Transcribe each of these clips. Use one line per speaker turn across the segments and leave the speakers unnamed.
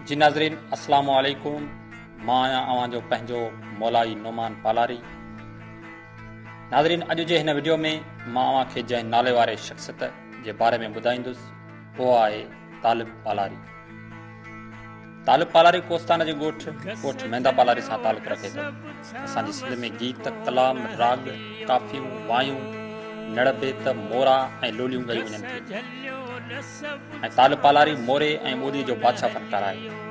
جي ناظرين السلام عليڪم مان آهيان اوهان جو پنهنجو مولائي نومان پالاري ناظرين اڄ جي هن وڊيو ۾ مان اوهان کي جنهن نالي واري شخصيت جي باري ۾ ٻڌائيندس اهو آهي طالب پالاري. طالب پالاري ڪوستان جي ڳوٺ ڪوٺ ميندا پالاري سان تعلق رکي ٿو. اسان جي سنڌ ۾ گيت، ڪلام، راڳ، ڪافيون، وايون، نڙ بيت، مورا ۽ لوليون ڳايون وڃن ٿيون ۽ طالب پالاري موري ۽ ٻوليء جو بادشاهه فنڪار آهي.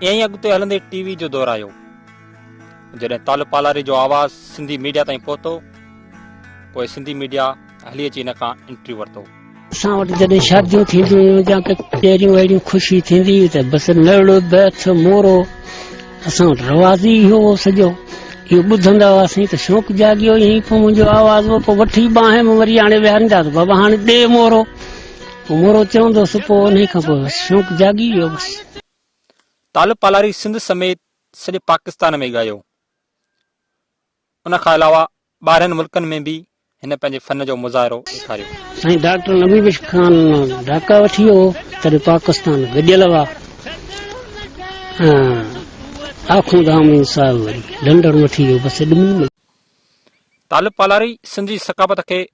ائين ئي اڳتي هلندي ٽي وي جو دور آيو جڏهن طالب پالاري جو آواز سنڌي ميڊيا تائين پهتو پوء سنڌي ميڊيا هلي اچي هن کان انٽرويو ورتو. اسان وٽ جڏهن
شاديون ٿينديون هيون يا ڪچهريون اهڙيون خوشي ٿيندي هئي ته بس نڙ، بيت، مورو اسان وٽ رواج ئي اهو هو سڄو. اهو ٻڌندا هئاسين ته شوق جاڳيو ائين ئي پوء منهنجو آواز هو پوء وٺي ٻانهن ۾ وري آڻي ويهاريندا ته بابا هاڻي ڏي مورو. پوء مورو چوندو هوس پوء انهي کان پوء بس شوق جاڳي ويو بس. طالب
پالاري سنڌ سميت سڄي پاڪستان ۾ ڳايو. ان کان علاوه ٻاهرين ملڪن ۾ به هن پنهنجي فن جو مظاهرو ڏيکاريو. سائين ڊاڪٽر نبي
بخش خان ڍاڪا وٺي ويو هو تڏهن پاڪستان گڏيل هئا ۽ آخوند آمين صاحب وري لنڊن وٺي ويو بس ايڏي ملڪ.
طالب پالاري سنڌ جي ثقافت کي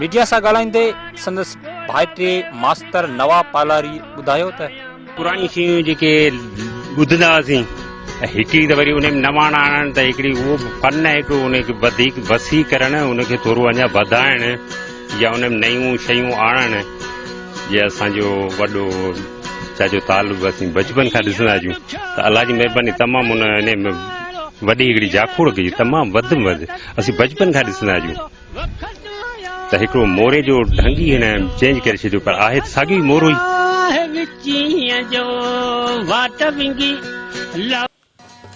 ميڊيا سان ڳالهائيندي سندس ڀائٽي ماستر نواب پالاري ٻڌايو ته پراڻيون شيون
جيڪي ٻڌندا هئاسين هڪڙي ته وري ان ۾ نواڻا آڻڻ ته هڪڙي اهو فن آهي هڪڙو ان کي وڌيڪ وسيع ڪرڻ ان کي ٿورو اڃا وڌائڻ يا ان ۾ نيون شيون آڻڻ جي اسان جو وڏو چاچو طالب اسين بچپن کان ڏسندا آهيون ته الله جي مهرباني تمام ان ان ۾ وڏي هڪڙي جاکوڙ ڪجي تمام وڌ ۾ وڌ اسين بچپن کان ڏسندا آهيون ته هڪڙو موري جو ڍنگ ئي هن چينج ڪري ڇڏيو پر آهي ته ساڳيو ئي مورو ئي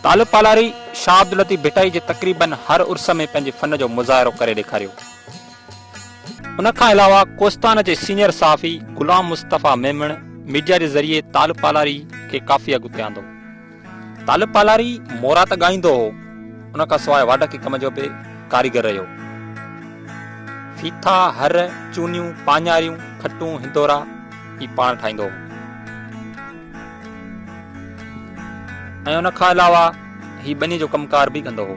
طالب پالاري شاهه عبداللطيف ڀٽائي جي تقريبن هر عرس ۾ پنهنجي فن جو مظاهرو ڪري ڏيکاريو. ان کان علاوه ڪوستان جي سينئر صحافي غلام مصطفيٰ ميمڻ ميڊيا جي ذريعي طالب پالاري کي ڪافي اڳتي آندو. طالب پالاري مورا ته ڳائيندو هو، ان کان سواء واڍڪي ڪم جو به ڪاريگر رهيو. ڦيٿا، هر، چونيون، پاڃاريون، کٽون، هندورا هي پاڻ ٺاهيندو هو ۽ ان کان علاوه هي ٻنيء جو ڪم ڪار به ڪندو هو.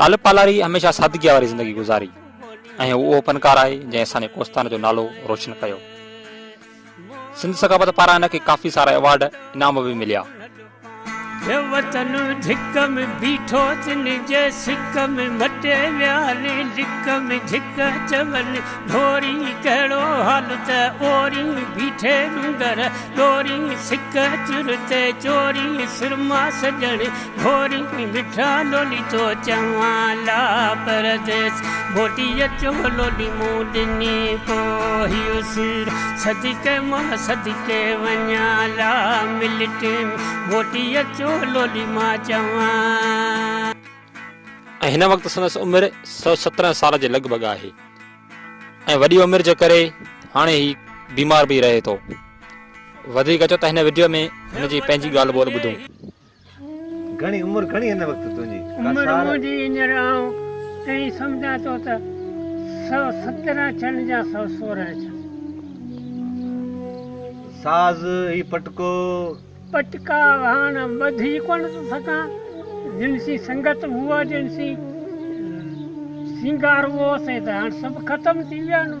طالب پالاري هميشه سادگيء واري زندگي گذاري ۽ هو اهو فنڪار آهي جنهن اسان جي ڪوستان جو نالو روشن ڪيو. سنڌ ثقافت پاران هن کي ڪافي سارا ايوارڊ انعام به مليا. هي
وطن ڌڪ ۾ بيٺو تن جي سڪ ۾ مٽي ويالي لڪ ۾ جهڪ چون ڍوري ڪهڙو حال ته اوري بيٺي ڏونگر ڏوري سڪ چر تي چوري سرما سڄڻ ڀوري ۾ مٺا لولي ٿو چوان لا پرديس موٽي اچو لولي مون ڏني پو هيو سير صدقي مان صدقي وڃان لا ملٽين موٽي اچو لولي مان چوان.
۽ هن وقت سندس عمر سؤ سترهن سال جي لڳ ڀڳ آهي ۽ وڏي عمر جي ڪري هاڻي هي بيمار به رهي ٿو وڌيڪ اچو ته هن وڊيو ۾ هن جي پنهنجي ڳالهه ٻولهه ٻڌو.
گهڻي عمر گهڻي هن وقت تنهنجي عمر منهنجي
هينئر آئون ائين سمجهان ٿو ته سؤ سترهن ڇن يا سؤ سورهن ڇن.
ساز هي پٽڪو. پٽڪا
هاڻ ٻڌي ڪونه ٿو سگهان جن سين سنگت هئو جن سين سينگار هئو سي ته هاڻ سڀ ختم ٿي ويا آهن.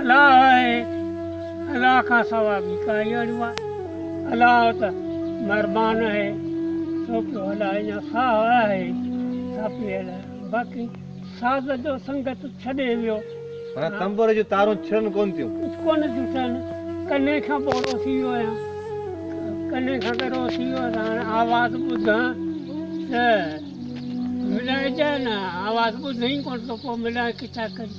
الله آهي، الله کان سوا ٻي ڪا ياري آهي، الله ته مهربان آهي، سو پيو هلائي يا ساهه آهي، سا پئي هلائي، باقي ساز جو سنگت ڇڏي ويو. معنيٰ تنبوري جون
تارون ڇڙن ڪونه ٿيون. ڪونه ٿيون ڇڙن،
ڪني کان ٻوڙو ٿي ويو آهيان، ڪني کان ڳرو ٿي ويو آهيان، هاڻي آواز ٻڌان ته ملائجان، آواز ٻڌين ڪونه ته پوء ملائي ڪٿان ڪري.